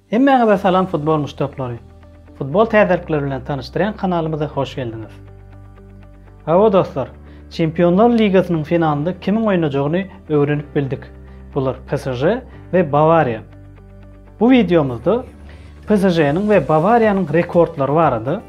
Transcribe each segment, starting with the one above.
Hemmäňize salam futbol muşdaklary. Futbol täzelikleri bilen tanyşdyrýan kanalymyza hoş geldiňiz. Hawa dostlar, Çempionlar ligasynyň finalynda kimiň oýnajagyny öwrenip bildik. Bular PSG we Bawariýa. Bu wideomyzda PSŽ-niň we Bawariýanyň rekordlary barada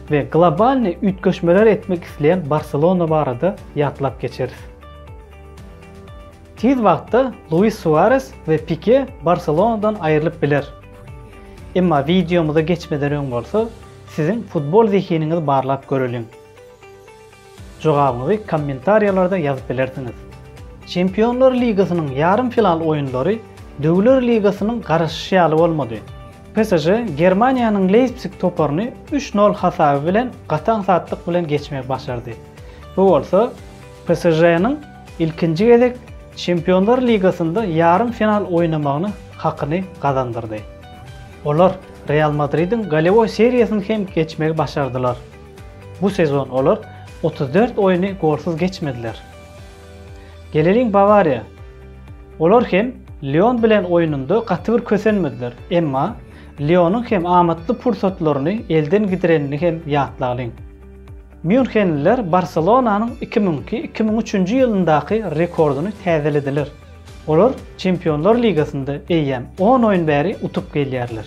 we globalny üýtgeşmeler etmek isleýän Barselona barada ýatlap geçeris. Tiz wagtda Luis Suares we Pike Barselonadan aýrylyp biler. Emma wideomyza geçmeden öň bolsa, siziň futbol zehiniňizi barlap göreliň. Jogabyňyzy kommentariýalarda ýazyp bilersiňiz. Çempionlar ligasynyň ýarym final oýunlary Döwler ligasynyň garaşyşy ýaly bolmady. PSŽ Germaniýanyň Leýpsig toparyny üç nol hasaby bilen gaty aňsatlyk bilen geçmegi başardy. Bu bolsa PSŽ-niň ilkinji gezek Çempionlar ligasynda ýarym final oýnamagyny hakyny gazandyrdy. Olar Real Madridiň golewoý seriýasyny hem geçmegi başardylar. Bu sezon olar otuz dört oýny golsuz geçmediler. Geleliň Bawariýa. Olar hem Lyon bilen oýnunda gaty bir kösenmediler, emma Lyonyň hem amatly pursatlaryny elden gidirenini hem ýatlalyň. Mýunhenliler Barselonanyň iki müň iki, iki müň üçünji ýylyndaky rekordyny täzelediler. Olar Çempionlar ligasynda eýýäm on oýun bäri utup gelýärler.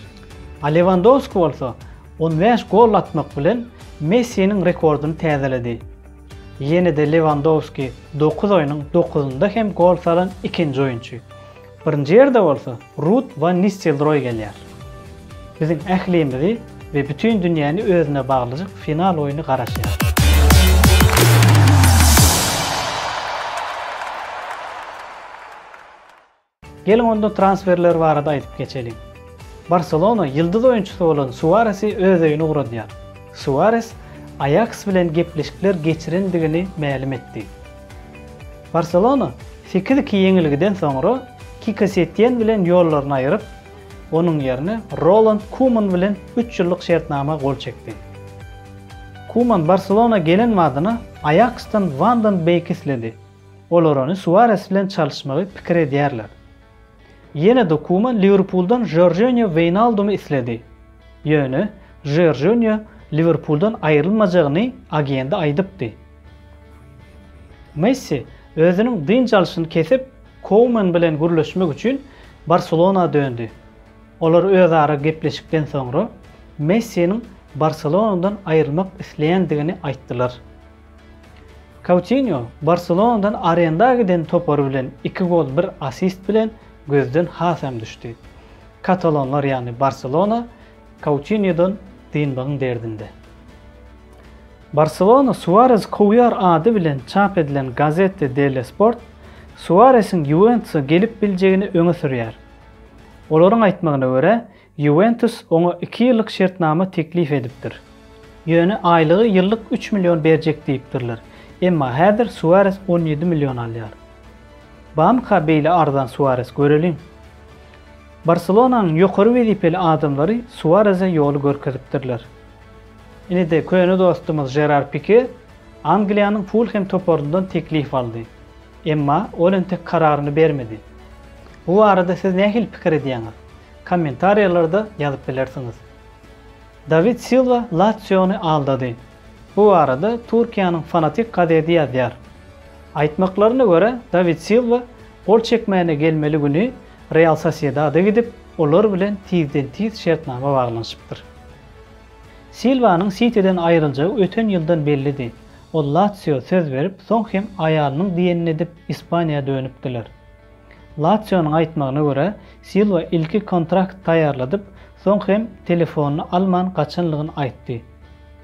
A Lewandowski bolsa On bäş gol atmak bilen Messiniň rekordyny täzeledi. Ýene-de Lewandowski dokuz oýnuň dokuzynda hem gol salan ikinji oýunçy. Birinji ýerde bolsa Rud Wan Nistelroý gelýär. Biziň ählimizi we bütin dünýäni özüne baglajak final oýny garaşýar. Geliň onda transferler barada aýdyp geçeliň. Barselona ýyldyz oýunçysy bolan Suaresi öz öýüne ugradýar. Suares Aýaks bilen gepleşikler geçirendigini mälim etdi. Barselona sekiz-iki ýeňilgiden soňra Kiko Setýen bilen ýollaryny aýryp, onuň ýerine Roland Kuman bilen üç ýyllyk şertnama gol çekdi. Kuman Barselona gelen badyna Aýaksdan Wandon Beýki isledi. Olar ony Suares bilen çalyşmagy pikir edýärler. Ýene-de Kuman Liwerpuldan Jorjinýo Weýnaldumy isledi. Ýöne Jorjinýo Liwerpuldan aýrylmajagyny agendi aýdypdy. Messi özüniň dynç alşyny kesip, Kouman bilen gürleşmek üçin Barselona döndi. Olar özara gepleşikden soňra Messiniň Barselonadan aýrylmak isleýändigini aýtdylar. Koutinýo Barselonadan arenda giden topary bilen iki gol bir assist bilen gözden hasam düşdi. Katalonlar ýagny Barselona Koutinýodan dynmagyň derdinde. Barselona Suarezi kowýar ady bilen çap edilen Gazette delle Sport Suaresiň Ýuwentusa gelip biljegini öňe sürýär. Olaryň aýtmagyna görä, Ýuwentus oňa iki ýyllyk şertnama teklip edipdir. Ýöne aýlygy ýyllyk üç million berjek diýipdirler. Emma häzir Suares on ýedi million alýar. Barmyka beýle arzan Suares, göreliň? Barselonanyň ýokary wezipeli adamlary Suarese ýoly görkezipdirler. Indi-de köne dostumyz Žerar Pike Angliýanyň Fulhem toparyndan teklip aldy. Emma ol entek kararyny bermedi. Bu barada siz nähili pikir edýäňiz? Kommentariýalarda ýazyp bilersiňiz. Dawid Silwa Latsiony aldady. Bu barada Türkiýäniň Fanatik gazedi ýazýar. Aýtmaklaryna görä, Dawid Silwa gol çekmäne gelmeli güni Real Sosiedada gidip, olar bilen tizden-tiz şertnama baglanyşypdyr. Silwanyň Sitiden aýryljagy öten ýyldan bellidi. Ol Latsio söz berip, soň hem aýalynyň diýenini edip, Ispaniýa dönüpdiler. Latsionyň aýtmagyna görä, Silwa ilki kontrakt taýýarladyp, soň hem telefonyny alman gaçanlygyny aýtdy.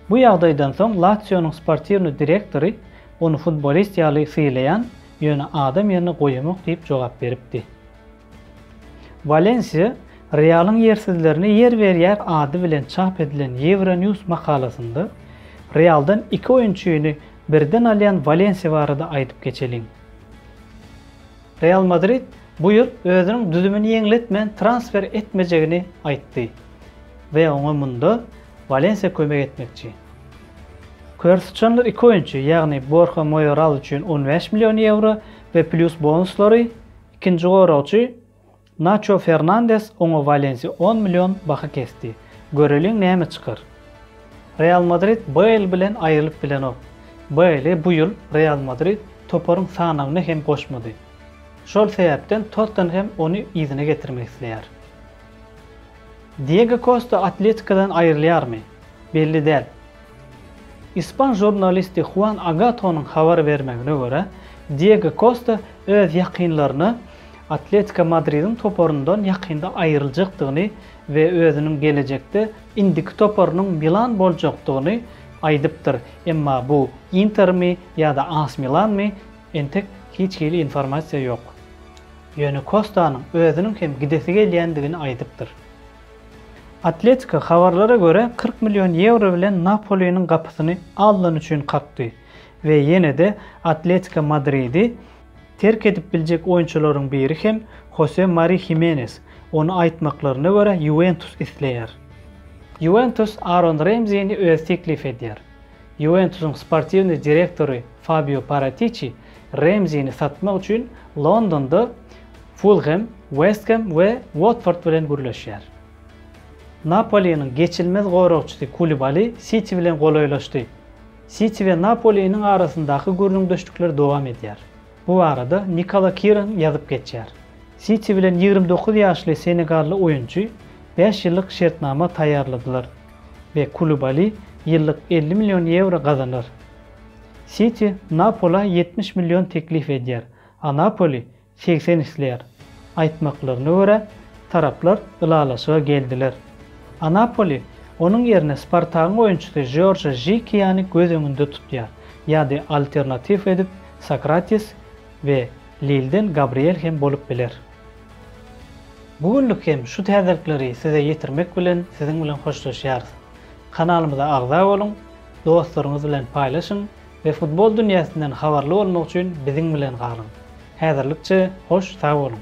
Bu ýagdaýdan soň Latsionyň sportiwnyý direktory ony futbolist ýaly sylaýan, ýöne adam ýerine goýamok diýip jogap beripdi. Walensiýa Realyň ýersizlerine ýer berýär ady bilen çap edilen Euronews makalasynda Realdan iki oýunçyny birden alýan Walensiýa barada aýdyp geçeliň. Real Madrid bu ýyl özüniň düzümini ýeňletmän transfer etmejegini aýtdy we oňa munda Walensiýa kömek etmekçi. Kör syçanlar iki oýunçy, ýagny Borha Moýoral üçin on bäş million ýewro we plýus bonuslary, ikinji goragçy, Naço Fernandes oňa Walensiýa on million baha kesdi. Göreliň näme çykar. Real Madrid Bale bilen aýrylyp bilenok. Bale bu ýyl Real Madrid toparyň sanawyna hem goşmady. Şol sebäpden Tottenhem ony yzyna getirmek isleýär. Diego Kosta Atletikodan aýrylýarmy? Belli däl. Ispan žurnalisti Huan Agatonyň habar bermegine görä, Diego Kosta öz ýakynlaryna Atletiko Madridiň toparyndan ýakynda aýryljakdygyny we özüniň gelejekde indiki toparynyň Milan boljakdygyny aýdypdyr, emma bu Intermi ýa-da As Milanmy, entek hiç hili informasiýa ýok. Ýöne Kostanyň özüniň hem gidesi gelýändigini aýdypdyr. Atletiko, habarlara görä, kyrk million ýewro bilen Napoliniň gapysyny alnan üçin kakdy we ýene-de Atletiko Madridi, Terk edip biljek oýunçylaryň biri hem Hose Mari Himenes, ony aýtmaklaryna görä Ýuwentus isleýär. Ýuwentus Aron Remzini özi teklip edýär. Ýuwentusyň sportiwnyý direktory Fabio Paratiçi Remzini satmak üçin Londonda Fulhem, West Hem we Watford bilen gürleşýär. Napoliniň geçilmez goragçysy Kulibali Siti bilen golaýlaşdy. Siti we Napoliniň arasyndaky gürrüňdeşlikler dowam edýär. Bu barada Nikola Kiran ýazyp geçýär. Siti bilen ýigrimi dokuz ýaşly senegally oýunçy bäş ýyllyk şertnama taýýarladylar we Kulibali ýyllyk elli million ýewro gazanar. Siti Napola ýetmiş million teklip edýär, a Napoli Segsen isleýär. Aýtmaklaryna görä, taraplar ylalaşyga geldiler. Anapoli onuň ýerine Spartagyň oýunçysy Žorže Žikiýany göz öňünde tutýar, ýa-da alternatiw edip Sokratis we Lilden Gabriel hem bolup biler. Bu günlük hem şu täzelikleri size ýetirmek bilen siziň bilen hoşlaşýarys. Kanalymyza agza boluň, dostlaryňyz bilen paýlaşyň, we futbol dünýäsinden habarly bolmak üçin biziň bilen galyň. Häzirlikçe hoş sag boluň!